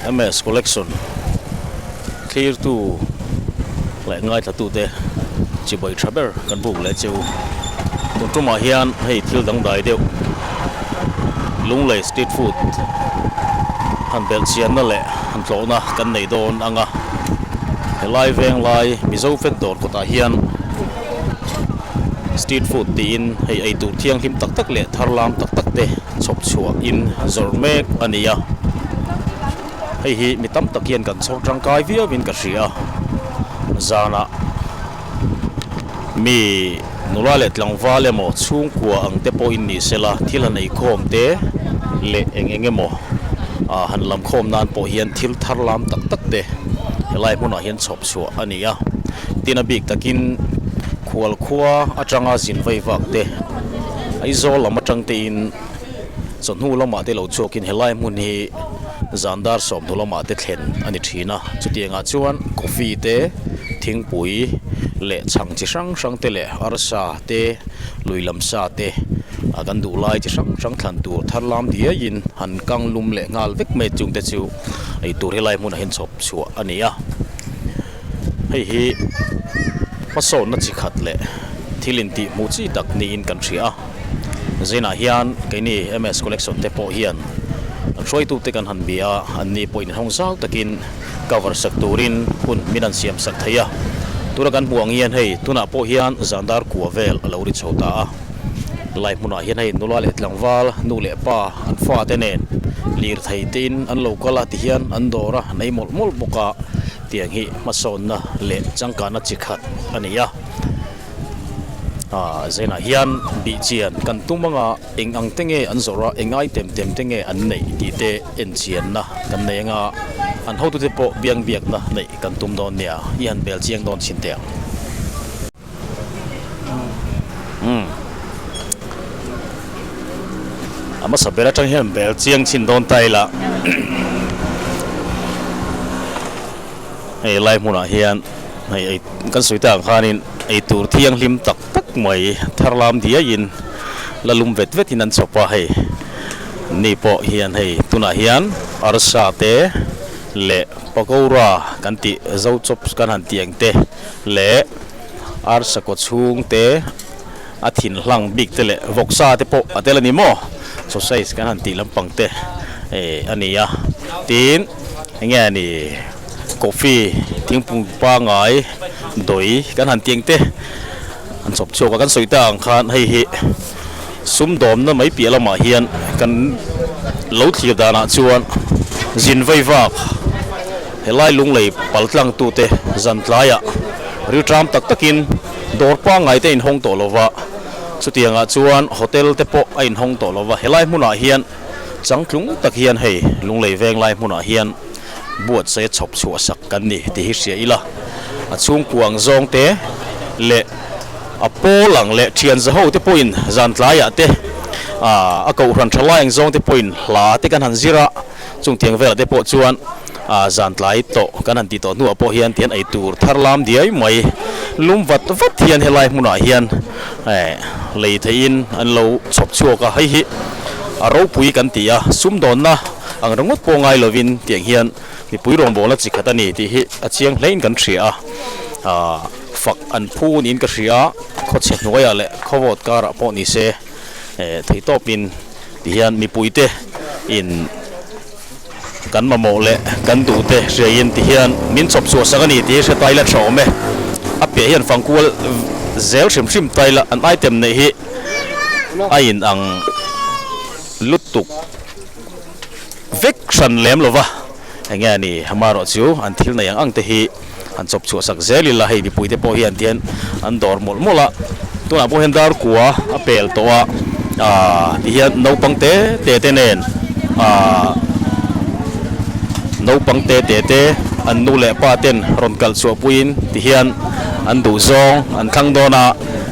MS collection thlir tu leh ngai thla tu te chi bawi tha ber kan buk leh chu tun tum ah hian hei thil dang dai deuh lunglei street food han belh chian na leh han tlawh na kan nei dawn ang a helai veng lai mizo fat dawr kawt ah hian Street food tiin hei eitur thianghlim tak tak leh thar lam tak tak te chhawp chhuah in zawrh mek a ni a, hei hi mi tam tak hian kan chhawr tangkai viau in ka hria a, zana mi nula leh tlangval emaw chhungkua ang te pawh in ni sela thil han ei khawm te leh eng eng emaw han lam khawm nan pawh hian thil thar lam tak tak te he lai hmunah hian chhawp chhuah a ni a. Tin a bik takin khual khua atanga zin vaivak te, Aizawl lam atangtein chawhnu lamah te lo chhuakin helai hmun hi zan dar sawmhnu lamah te thlen a ni thin a. Chutiangah chuan coffee te, thingpui leh chhang chi hrang hrang te leh arsa te, lui lam sa te kan duh lai chi hrang hrang thlan tur tharlam diaiin han kang lum leh nghal vek mai chung te chu, eitur hi lai hmunah hian chhawp chhuah a ni a, hei hi hmasawnna chi khat leh thil intihhmuh chi tak niin kan hria a, zinah hian keini MS Collection te pawh hian an hruaitute kan han bia an ni pawhin inhawng zau takin cover sak turin hun min an siam sak thei a, tura kan hmuh ang hian hei tunah pawh hian zandar kua vel a lo ri chho ta a. Lai hmunah hian hei nula leh tlangval, nu leh pa, an fate nen lirthei tein an lo kal a ti hian an dawr a, an ei mawlh mawlh bawk a. Tiang hi hmasawnna leh changkahna chi khat a ni a. A zenah hian bihchian kan tum anga eng ang te nge an zawrh a, eng ai tem tem te nge an neih tih te enchianna kan nei anga an hotute pawh biang biakna neih kan tum dawn nia i han bel chiang dawn chhin teh ang. A hmasa ber atang hian bel chiang chhin dawn ta ila hei lai hmunah hian hei ei kan sawi ta ang khanin eitur thianghlim tak tak mai thar lam diaiin la lum vet vetin an chhawp a hei ni pawh hian hei tunah hian arsa te leh pakora kan tih zo chawp kan han tih ang te. leh arsa kaw chhung te a thin hlang bik te leh vawk sa te pawh a tel a ni maw saw size kan han tih lampang te a ni a tin eng nge a ni coffee thingpung pangai dawi kan han tih ang te. An chhawp chhuak a kan sawi ta ang khan hei hi sum dawmna mai piah lamah hian kan lo thlir danah chuan zin vai vak helai lunglei pal tlangtu te zan tlaiah riltram tak takin dawr pangngai te a in hawng tawh lo va, chutiangah chuan hotel te pawh a in hawng tawh lo va, helai hmunah hian changtlung tak hian hei lunglei veng lai hmunah hian. buat se chhawp chhuah sak kan ni tih hi hria ila, a chhungkuang zawng te leh a pawl ang leh thian zaho te pawhin zan tlaiah te, a kohhran tha lai ang zawng te pawhin hla te kan han zir a, chung tiang velah te pawh chuan zan tlai tawh kan han tih tawh hnuah pawh hian tian ei tur thar lam diai mai, lum vat vat hian helai hmunah hian lei thei in an lo chhawp chhuak a, hei hi a ropui kan ti a, sumdawnna. Ang ringawt pawh ngai lovin tiang hian mipui rawngbawla chi khat a ni tih hi a chiang hlein kan hria a. Fak an phu niin ka hria, khawchhe hnuaiah leh khawvawt karah pawh ni se, theihtawpin ti hian mipuite in kan mamawh leh kan duh te hriain ti hian min chawp chu a sak a ni tih hi hre taila tha awm e. A piahah hian fangkual zel hrim hrim taila an aitem neih hi a inang lutuk. vek hran lem lova eng nge ani amarawh chu an thil nei ang ang te hi an chawp chhuah sak zel ila hei mipui te pawh hian tihian an dawr mawlh mawlh a tunah pawh hian dar kua a pel tawh a ah tihian naupang te te te nen ah naupang te te te an nu leh pa ten rawn kalh chhuah puiin tihian an duh zawng an thlang dawn a.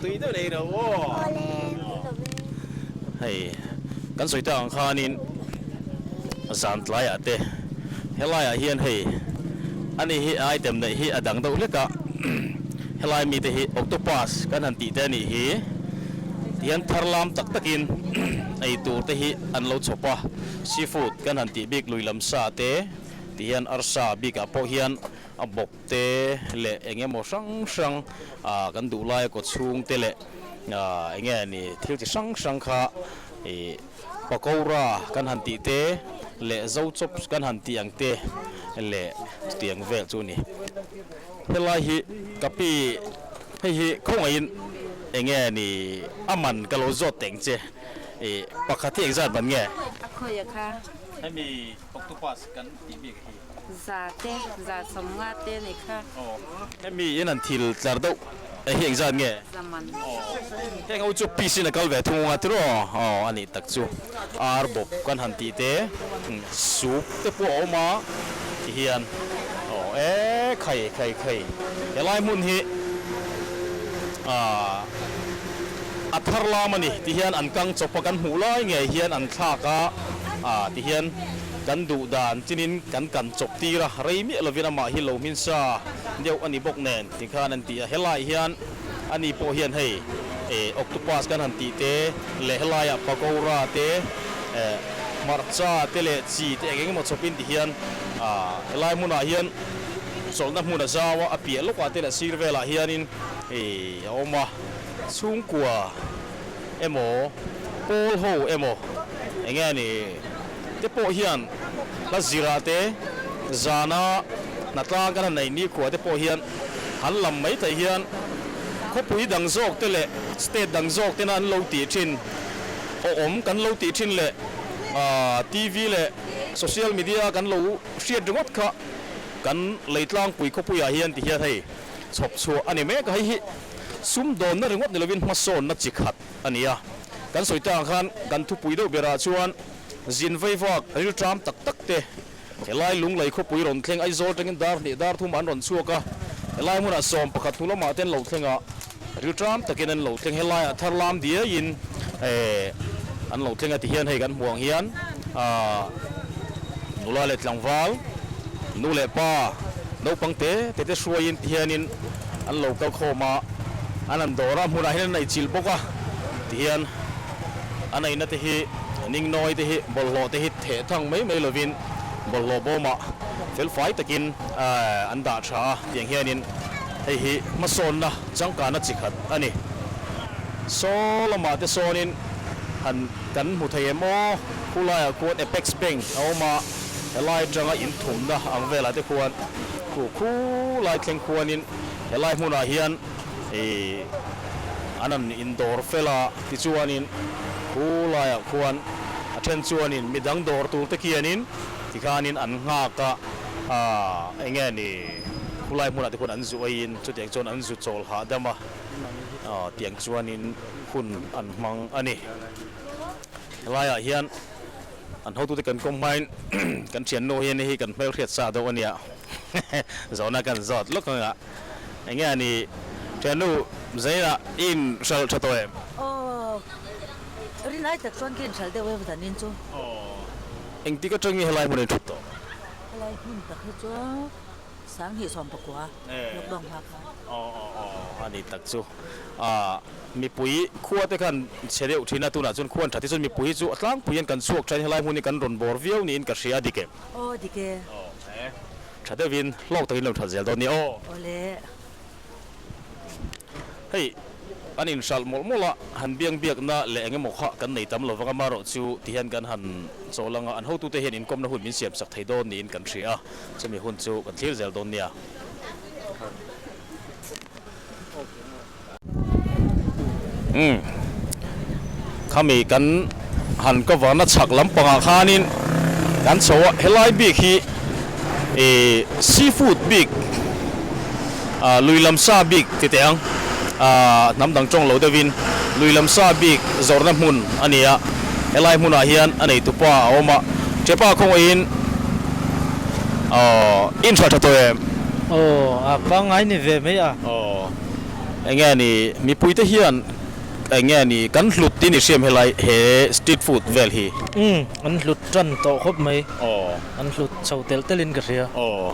Tui deuh nei lo aw. Hei kan sawi te ang khanin zan tlaiah te helaiah hian hei ani hi a item neih hi a dang deuh hlek a helai mi te hi octopus kan han tih te anih hi ti hian thar lam tak tak in ei tur te hi an lo chhawp a seafood kan han tih bik lui lam sa te ti hian arsa bik ah pawh hian a bawk. te leh eng emaw hrang hrang ah kan duh laia kaw chhung te leh ah eng nge ni thil chi hrang hrang kha ih pakora kan han tih te leh zo chawp kan han tih ang te leh chuti ang vel chu a ni. Helai hi ka pi hei hi khawngaihin eng nge ni a man ka lo zawt teng che ih pakhat hi example nge. A khawiah kha. Hemi. Octopus kan tih bik hi. Za te, za chawm nga te ni kha. Hemi in an thil tlar deuh a heng zat nge? Za man. Heng ho chu peace in a kal ve thung anga ti raw? Aw, a nih tak chu. Ar bawp kan han tih te. Soup te pawh a awm a ti hian. Aw e, khai, khai, khai. Helai hmun hi ahh a thar lam a ni ti hian an kang chawpa kan hmuh lai ngei hian an thlak a. a ti hian kan duh dan chinin kan kan chawp tir a, rei miah lovin amah hi lo hminsa deuh a ni bawk nen tih khan an ti a, helai hian ani pawh hian hei octopus kan han tih te leh helaiah pakoura te hmarcha te leh chi te eng eng emaw chhawpin ti hian a helai hmunah hian chawlhna hmun a zau a, a piah lawkah te leh sir velah hianin a awm a, chhungkua. emaw pawl ho emaw eng nge a ni te pawh hian hla zirah te zana hna tlang kan han nei nikhua te pawh hian han lam mai thei hian khawpui dang zawk te leh state dang zawk tena an lo tih thin aw awm kan lo tih thin leh TV leh social media kan lo hriat ringawt kha kan lei tlangpui khawpuiah hian ti hian hei chhawp chhuah a ni mek a hei hi. sumdawnna ringawt ni lovin hmasawnna chi khat a ni a. Kan sawi te ang khan kan thupui deuh berah chuan zin vaivak rilṭam tak tak te, helai lunglei khawpui rawn thleng Aizawl ṭangin dar hneh dar thuma an rawn chhuak a, helai hmunah sawm pakhat hnu lamah te an lo thleng a, rilṭam takin an lo thleng helaiah thar lam diaiin an lo thleng a ti hian hei kan hmuh ang hian nula leh tlangval, nu leh pa, naupang te te te hruaiin ti hianin, an lo kal khawm a, an han dawr a, hmunah hian an eichilh bawk a ti hian a neihna te hi Ningnawi te hi bawlhhlawh te hi theh thang mai mai lovin bawlhhlawh bawmah felfai takin an dah tha a tiang hianin hei hi hmasawnna changkana chi khat a ni. Saw lamah te sawnin han kan hmu thei em aw, khulaiah khuan Apex Bank a awm a. Helai atanga inthumna ang velah te khuan khu khu lai thleng khuanin helai hmunah hian an han indawr fel a, tichuanin khu laiah khuan a then chuanin midang dawr tur te khianin tikhanin an nghak a, eng nge ni khu lai hmunah te khuan an zu aiin chutiang chuan an zu chawl hahdam a tiang chuanin hun an hmang a ni. Helaiah hian. An hotute kan kawm hmain kan thiannu hi nihi kan hmelhriat sa deuh ania zawhna kan zawt lawk anga enge ani thiannu zeina in hral tha tawh em? Aww ri lai tak chuan ka inhral deuh em zanin chu. Aww engtik atangi helai hmun a inthut tawh? Helai hmun tak hi chu. Sang hnih sawm pakua lockdown hma khan. Aww aww aww ani tak chu aah mipui khua te khan chhe deuh thin a tunah chuan khua an tha te chuan mipui hi chu a tlangpui hian kan chhuak thain helai hmun hi kan rawn bawr viau niin ka hria a dik e. Aww dik e. Aww e. Tha deuhin hlawk takin lo that zel dawn nia aww. Awle. Hei, an inhralh mawlh mawlh a, han biang biakna leh eng emaw kha kan nei tam lo vang a, mah rawh chu ti hian kan han chawl ang a, an hotute hian inkawmna hun min siam chak thei dawn niin kan hria a, chumi hun chu kan thlir zel dawn nia. Khami kan han cover na chak lampangah khanin kan chho a, helai bik hi seafood bik, lui lam sa bik ti teh ang, hnam dang tawng lo deuhin lui lam sa bik zawrhna hmun a ni a, helai hmunah hian a neitu pa a awm a, hre pa khawngawihin aww in hra tha tawh em? Aww a pangngai ni ve mai a. Aww enge a ni, mipui te hian. Enge a ni? Kan hlut tih ni hriam helai he street food vel hi? Umm, an hlut tan tawh khawp mai. Aw. An hlut chho telh telh in ka hria. Aw.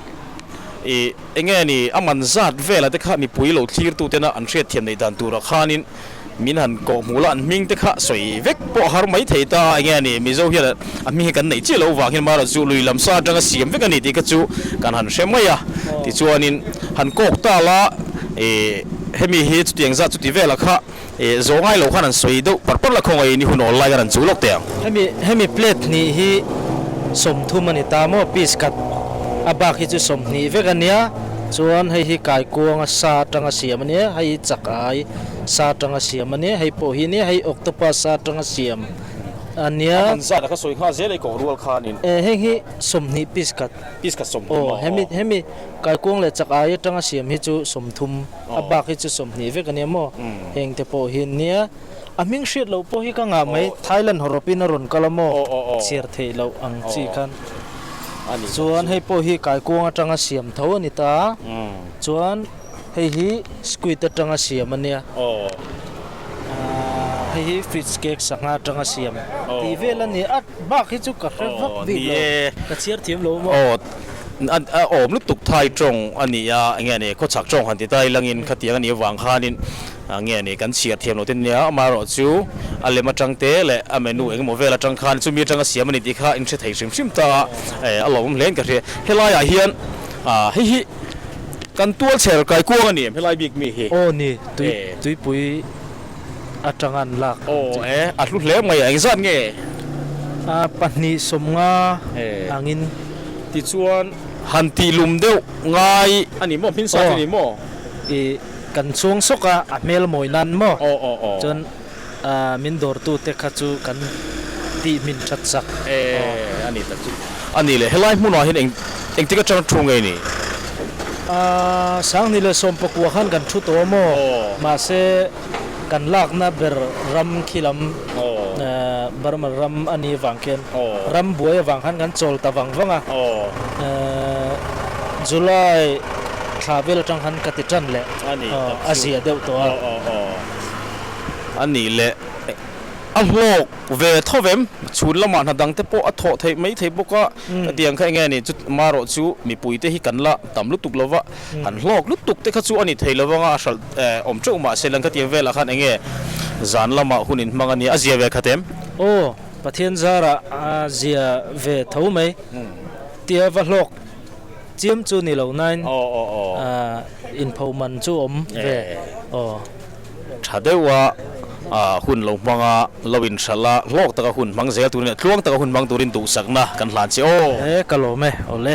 I, enge a ni? A man zat vel ah te kha mipui lo thlir tu ten a an hriatthiam neih dan tur ah khan in min han kawh hmul a, an hming te kha sawi vek pawh a har mai thei ta a, enge a ni? Mizo hian a hming hi kan neih chiah loh vangin mahra chu lui lam sa atanga siam vek a ni tih kha chu kan han hre mai a, tichuanin han kawk ta la eh hemi hi chutiang zat chuti velah kha eh zawh ngai loh khan an sawi deuh par par la khawngaih ni hun awl lai khan an chuh lawk teh ang. Hemi hemi plate hnih hi sawm thum a ni ta maw, piece cut a bak hi chu sawm hnih vek a nia, chuan hei hi kaikuanga sa atanga siam a nia, hei hi chak ai sa atanga siam a nia, hei pawh hi nia hei octopus sa atanga siam. A nia. A man zat a ka sawi nghal zel eikaw rual khan in. Eh heng hi sawmhnih piece khat. Piece khat sawmthum maw? Aw hemi hemi kaikuang leh chak ai atanga siam hi chu sawmthum a bak hi chu sawmhnih vek a nia maw? Heng te pawh hi an nia. A hming hriat loh pawh hi ka ngah mai Thailand hawrap in a rawn kal a maw? Chhiar theih loh ang chi khan. Chuan hei pawh hi kaikuang atanga siam tho a ni ta. Chuan. Hei hi squid atanga siam a nia. Hei hi fish cake sangha atanga siam ti vel a ni. At bak hi chu ka hre vak bik lo, ka chhiar thiam lo maw? Aw, a awm lutuk thai tawng a ni a, eng nge ni, khawchhak tawng han ti ta ila ngin khatiang a nih avang khanin eng nge ni kan chhiar thiam lo te nia. Amaherawh chu a lem atang te leh a menu eng emaw vel atang khan chumi atanga siam a ni tih kha in hre thei hrim hrim ta a, a lo awm hle in ka hria. Helaiah hian hei hi. Kan tual chher kai kuang a ni em helai bik mi hi? Aw ni, tui tuipui atanga an lak ang che. Aw e, a hlu hle mai a, eng zat nge? A pahnih sawm nga ang in. Tichuan, han tih lum deuh ngai a ni maw, hmin sa te ni maw? I kan chuang sawk a, a hmel mawi nan maw? Aw aw aw. Chuan. Ahh min dawrtu te kha chu kan tih hmin that sak eh a ni ta chu. A ni le, helai hmunah hian eng eng tik atanga thu ngei ni? Ahh Sangni leh Sawmpakua khan kan thu tawh a maw? Mahse kan lakna ber ram khi lam ehh Burma ram a nih avang khian ram buai avang khan kan chawl ta vang vang a, ehh July thla vel atang khan ka ti tan leh a ziah deuh tawh a. a nih leh a hlawk ve thawp em, chhun lamah hna dang te pawh a thawh theih mai thei bawk a, ka tiang kha eng nge ni chu marawh chu mipui te hi kan la tam lutuk lo va, kan hlawk lutuk te kha chu a ni thei lo vang a, a hralh awm teuh mah se lang khatiang vel ah khan eng nge zan lamah hun in hmang a nia, a zia ve khat em? Aw, Pathian zar ah a zia ve tho mai, tia va hlawk Chiam chu ni lo nain inpho man chu awm ve aw. Tha deuh a hun lo hmang a, lo in hralh a, hlawk taka hun hmang zel turin leh tluang taka hun hmang turin duhsakna kan hlan che aw. E ka lawm e, awle.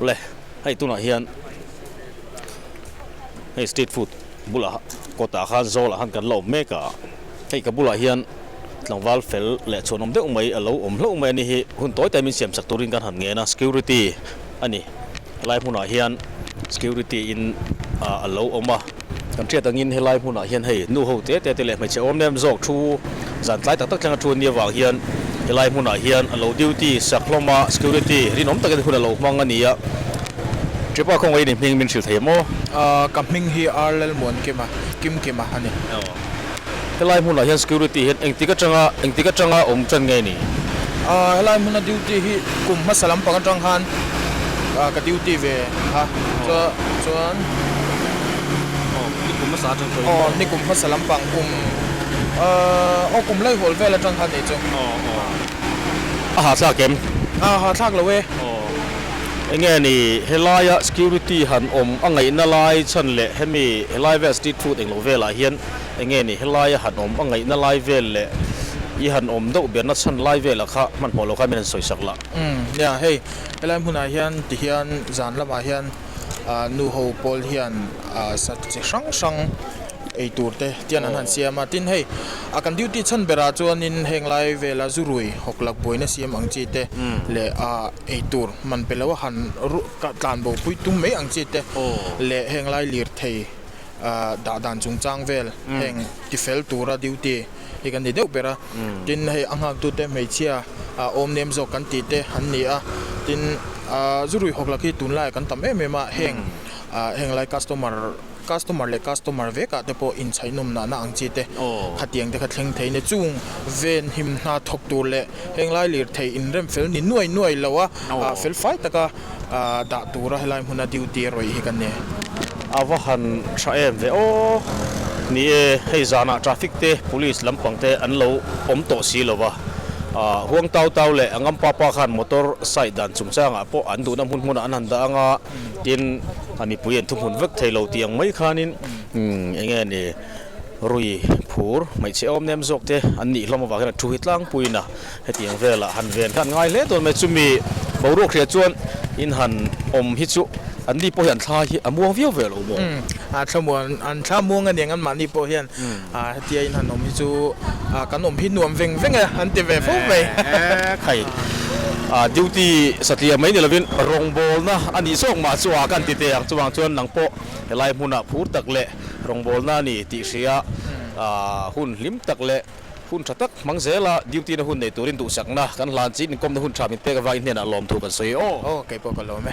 le hei tunah hian hei street food bulah kawtah khan zawlah khan kan la awm mek a. Hei ka bulah hian tlangval fel leh chhuanawm deuh mai a lo awm hlauh mai a ni hi hun tawi takin siam chak turin kan han ngen a, security a ni. Helai hmunah hian security in a lo awm a, kan hriat angin helai hmunah hian hei nuho te te te leh hmeichhe awm nem zawk thu zan tlai tak tak thleng a thu a nia vang hian helai hmunah hian a lo duty sak hlawm a, security rinawm takin hun a lo hmang a ni a, Tripa khawngaih i ni hming min hrilh thei maw? Ka hming hi Arlelmuan Kima, Kim Kima a ni. Helai hmunah hian security hian engtik atanga, engtik atanga a awm ṭan ngei ni? Aaa, helai hmuna duty hi kum hmasa lampang atang khan ka duty ve a, chuan, aw, ni kum hmasa atang pawhin, aw, ni kum hmasa lampang kum, aaa, aw, kum laihawl vel atang khan ni chu, aw, aw. A hahthlak em? Aaa, hahthlak lo e. Aw. Enge ni, helaia security han awm a ngaihna lai chhan leh hemi helai vel street food englo velah hian enge ni, helaia han awm a ngaihna lai vel leh i han awm deuh berna chhan lai vela kha hmanhmawh lo kha min han sawisak la. Umm, nia, hei helai hmunah hian tihian zan lamah hian nuho pawl hian sat chi hrang hrang ei tur te tian an han siam a, tin hei a kan duty chhan berah chuanin henglai vela zu rui hawk lakbuaina siam ang chi te leh a Eitur man pe lo a han ruh tlan bo pui tum mai ang chi te leh heng lai lirthei dah dan chung chang vel heng ti fel tura duty hi kan ni deuh ber a. Tin hei a nghak tu te hmeichhia a awm nem zawk kan tih te an ni a, tin a zu ruihawk lak hi tun lai ah kan tam em em a heng heng lai customer Customer leh customer vekah te pawh inchhaihnawmnahna ang chi te khatiang te kha thleng thei nia. Chung ven him hna thawk tur leh henglai lirthei inremfel ni nuai nuai lo a felfai taka dah tura helai hmuna duty a rawih hi ka ne. A va han tha em ve aw ni e, hei zanah traffic te police lampang te an lo awm tawh si lo va, Huangtau tau leh Ngampa pa khan motor site dan chungchangah pawh an duhna hmun hmunah an han dah ang a. Tin, a mipui an thu hmun vek thei lo tih ang mai khanin, umm, eng nge ni, Rui, Phur, hmeichhe awm nem zawk te an nih hlawm avangin a thu hi tlangpuiin a, heti ang velah han ven kha an ngai hle dawn mai. Chumi boruak hriat chuan in han awm hi chu anni pawh hian thlai hi a muang viau ve lo maw? Umm, a thlamuan, an thla muang aniang anmahni pawh hian A hetia in han awm hi chu kan awm hi nuam veng veng e an ti ve fo mai. Khai a duty satliam mai ni lovin rawngbawlna a nih zawk mah chu a kan ti teh ang chuvang chuan nang pawh helai hmuna phur tak leh rawngbawlna a ni tih hria hun hlim tak leh hun tha tak hmang zela duty na hun nei turin duhsakna kan hlan chin inkawmna hun tha min pek avangin hnenah lawm thu kan sawi aw. Aw kei pawh ka lawm e.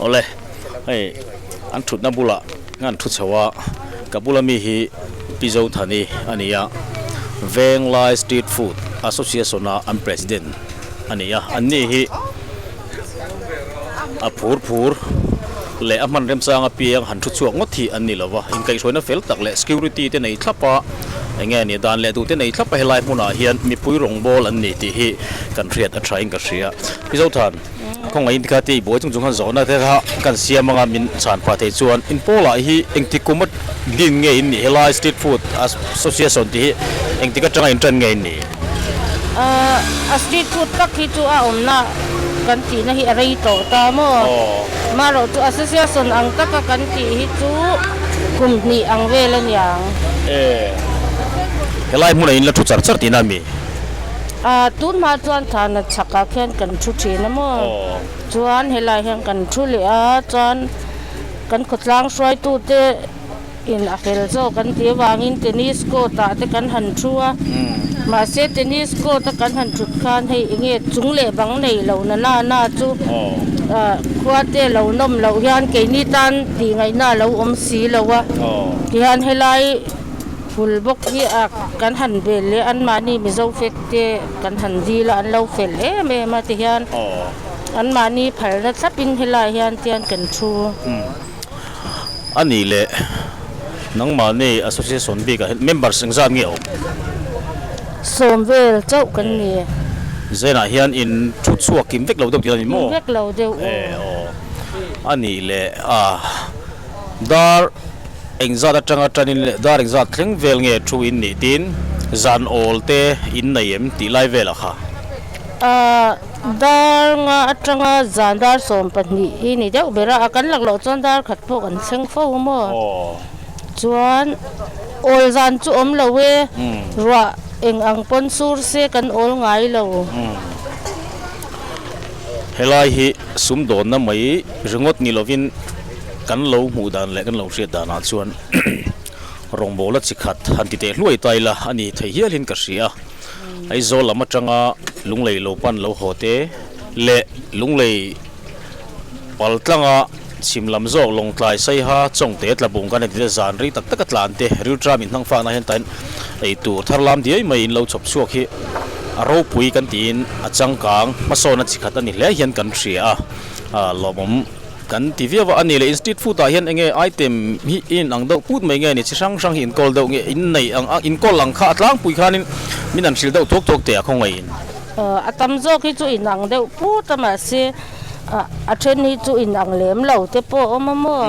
Awle, hei an thutna bulah hian thu chho a, ka bula mi hi Pi Zothani a ni a, Venglai Street Food Association-a an president a ni a, anni hi-- A phurphur leh a hman remchang apiang han thu chhuak ngawt hi an ni lo a, inkaihhruaina fel tak leh security te nei thlap a, eng nge ni, dan leh duh te nei thlap a helai hmunah hian mipui rawngbâwl an ni tih hi kan hriat a ṭhain ka hria. I Zothan, khawngaih inkhat te i buai chung chung han zawhna te kha kan siam anga min chhan phah thei chuan in Paula hi engtik kuma din nge in nih? Helai street food association tih hi engtik aṭanga in ṭan nge in nih? Ahh a street food tak hi chu a awmna kan tihna hi a rei tawh ta maw? Maroh chu association ang taka kan tih hi chu kum hnih ang vel a niang. Ehh helai hmuna in la thu char char tihna a mi? Ahh tunhma chuan thana chhak ah khian kan thu thin a maw? Chuan helai hian kan thu leh a chuan kan khawtlang hruai tu te. In a fel zawk kan ti avangin tennis court ah te kan han thu a. Mahse tennis court a kan han thut khan hei enge chung leh bang nei lo na nana chu khuate lo nawm loh hian keini tan tih ngaihna lo awm si lo a. Tihian helai hul bawk hi a kan han bel leh an mahni mizo fek te kan han dil a an lo fel em em a tihian an mahni phalna thlap in helai hian tian kan thu. a nih leh nangmahni association bikah hian members engzat nge a awm? Sawm vel chauh kan ni e. Zenah hian in thu chhuak kim vek lo deuh tih a ni maw? Kim vek lo deuh aw. Ee aw. A nih leh a, dar engzat atanga tanin leh dar engzat thleng vel nge thu in nih tin zan awl te in nei em tih lai velah kha. Aa. Dar nga atanga zan dar sawm pahnih hi ni deuh ber a, a kan lakloh chuan dar khat pawh kan thleng fo maw. Chuan awl zan chu awm lo e, ruah eng ang pawn sur se kan awl ngai lo. Helai hi sumdawnna mai ringawt ni lovin kan lo hmuh dan leh kan lo hriat danah chuan rawngbawla chi khat han ti teh hluai ta ila a ni thei hialin ka hria. Aizawl lam atanga lunglei lo pan lo haw te leh lunglei pal tlanga chhim lam zawk Lawngtlai, Saiha, Chawngte, Tlabung kan eti te zan ri tak taka tlan te Riltram inhnang fakna hian tain ei tur thar lam diai mai in lo chhawp chhuak hi a ropui kan tiin a changkang hmasawn a chi khat a ni hle hian kan hria a lawmawm Kan ti viau va a ni le in street food ah hian enge item hi in in ang deuh put mai nge ni chi hrang hrang hi in call deuh nge in nei ang a in call ang kha a tlangpui khan in min an hrilh deuh thuak thuak te a khawngaih in a tam zawk hi chu in ang deuh put a mah se a then hi chu in ang lem lo te pawh a awm a maw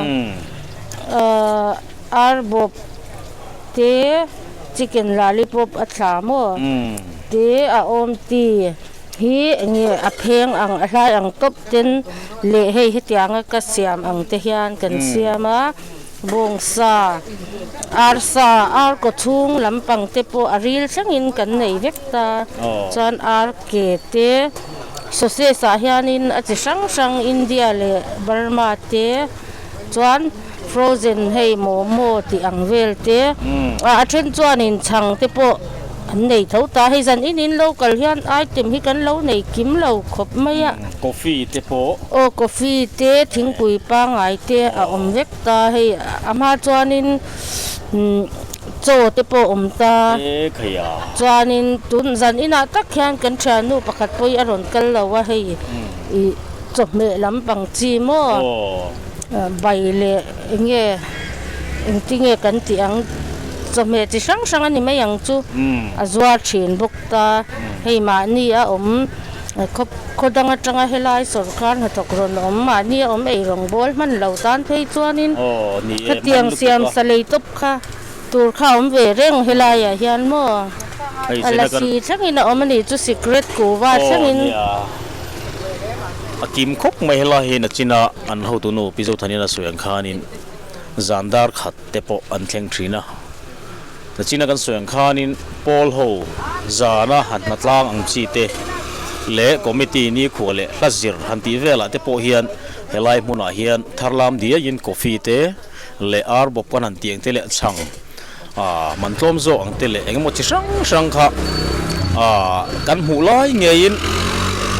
ar bawp te chicken lollipop a thla maw te a awm ti. Hi enge a pheng ang, a hlai ang tawp ten leh hei hetianga ka siam ang te hian kan siam a, bawngsa, arsa, arkaw chhung lampang te pawh a ril thlengin kan nei vek ta, chuan arke te, sauces ah hianin a chi hrang hrang India leh Burma te chuan. Frozen hei momo tih ang vel te a then chuan in chhang te pawh an nei tho ta hei zan in in lo kal hian item hi kan lo nei kim lo khawp mai a. Coffee te pawh. Aw coffee te thingpui pangai te a awm vek ta hei a hma chuan in chaw te pawh awm ta chuan in tun zan in ah tak hian kan thian nu pakhat pawh hi a rawn kal lo a hei i chawhmeh lampang chi maw. Bai leh enge engti nge kan tih ang chawhmeh chi hrang hrang a ni mai ang chu a zuar thin bawk ta. Hei mahni a awm khaw khaw dang atanga helai sorkar hnathawk rawn awm mahni a awm ei rawngbawl hman lo tan phei chuanin khatiang siam salei tawp kha. Tur kha awm ve reng helai ah hian maw? A lasi thleng in a awm a nih chu secret kuva thleng in. Aw nia. A kim khawp mai helai hian a chin a an ho tu nu Pizo Thanin a sawi ang khan in zan dar khat te pawh an thleng thin a. A chin a kan sawi ang khan in Paul ho zan a han hna tlang ang chi te leh committee nikhua leh hla zir han tih vel ah te pawh hian helai hmun ah hian tharlam diai in coffee te, leh ar bawp kan han tih ang te leh chhang aah man tlawm zawk ang te leh eng emaw chi hrang hrang kha aah kan hmuh lai ngeiin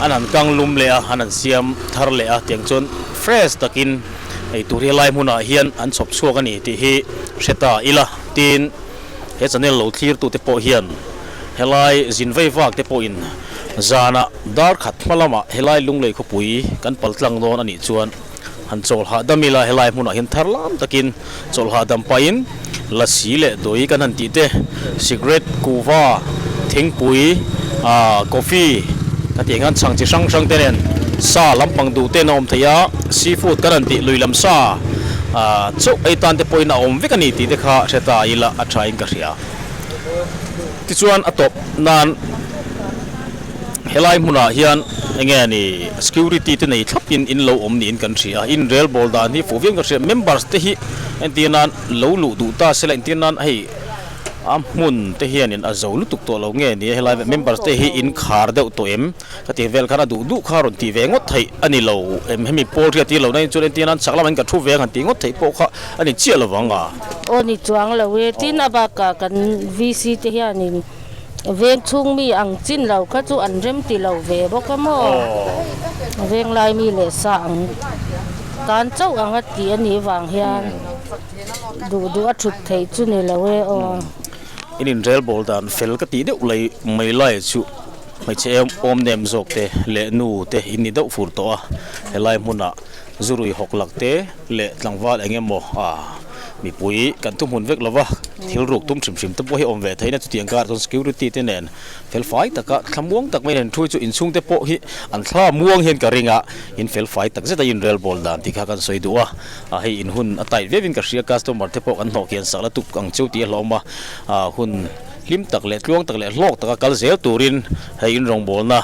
an han kang lum leh a, an han siam thar leh a tiang chuan fresh takin eitur hi helai hmunah hian an chhawp chhuak a ni tih hi hre ta ila. Tin, he channel lo thlirtu te pawh hian helai zin vei vak te pawhin zanah darkhat hma lamah helai lunglei khawpui kan paltlang dawn a nih chuan, Han chawlhah dam ila helai hmunah hian thar lam takin chawlhah dam pahin lasi leh dawi kan han tih te, cigarette, kuhva, thingpui, coffee ka tih anghian chhang chi hrang hrang te nen sa lampang duh ten a awm thei a, sea food kan han tih lui lam sa chauh ai tan te pawhin a awm vek a ni tih te kha Hretha ila a thain ka hria. Tichuan a tawp nan. Helai hmunah hian enge a ni security te nei thlapin in lo awm niin kan hria. Inrel bawl dan hi fuh viain ka hria. Members te hi entir nan lo luh duh ta se la entir nan a hei a hmun te hianin a zo lutuk tawh lo nge ni? Helai members te hi in khar deuh tawh em? Ka ti vel khan a duh duh kha rawn ti ve ngawt theih a ni lo em? Hemi pawl hriat hi lo na in chuan entir nan chak lam ah in ka thu ve ang han tih ngawt theih pawh kha a ni chiah lo vang a. Aw ni chuang lo e. Tin a bakah kan VC te hianin. Veng chhung mi ang chin lo kha chu an rem ti lo ve bawk a maw? Veng lai mi leh sa ang tan chauh ang a tih a nih vang hian duh duh a thut theih chu ni lo e aw. In inrel bawl dan fel ka tih deuh lei mai lai chu hmeichhe awm nem zawk te leh nu te in ni deuh fur tawh a helai hmun ah. Zu rui hawk lak te leh tlangval eng emaw a mipui kan thu hmun vek lo va, thil ruk tum hrim hrim te pawh hi awm ve theih in a, chutiang kar ah chuan security te nen fel fai tak a thla muang tak mai in an thu a, chu inchhung te pawh hi an thla muang hian ka ring a, in fel fai tak zet a inrel bawl dan tih kha kan sawi duh a, a hei in hun a tight viau in ka hria customer te pawh kan hnawh kian sak la tuk ang cheu tih a hlawm a, hun hlim tak leh tluang tak leh hlawk tak a kal zel tur in Hei in rawngbawlna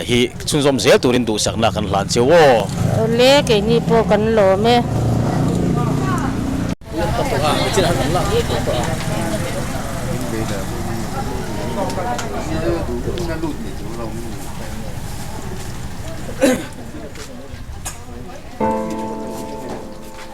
hi chhunzawm zel turin duhsakna kan hlan cheu aw. Awle, keini pawh kan lawm e.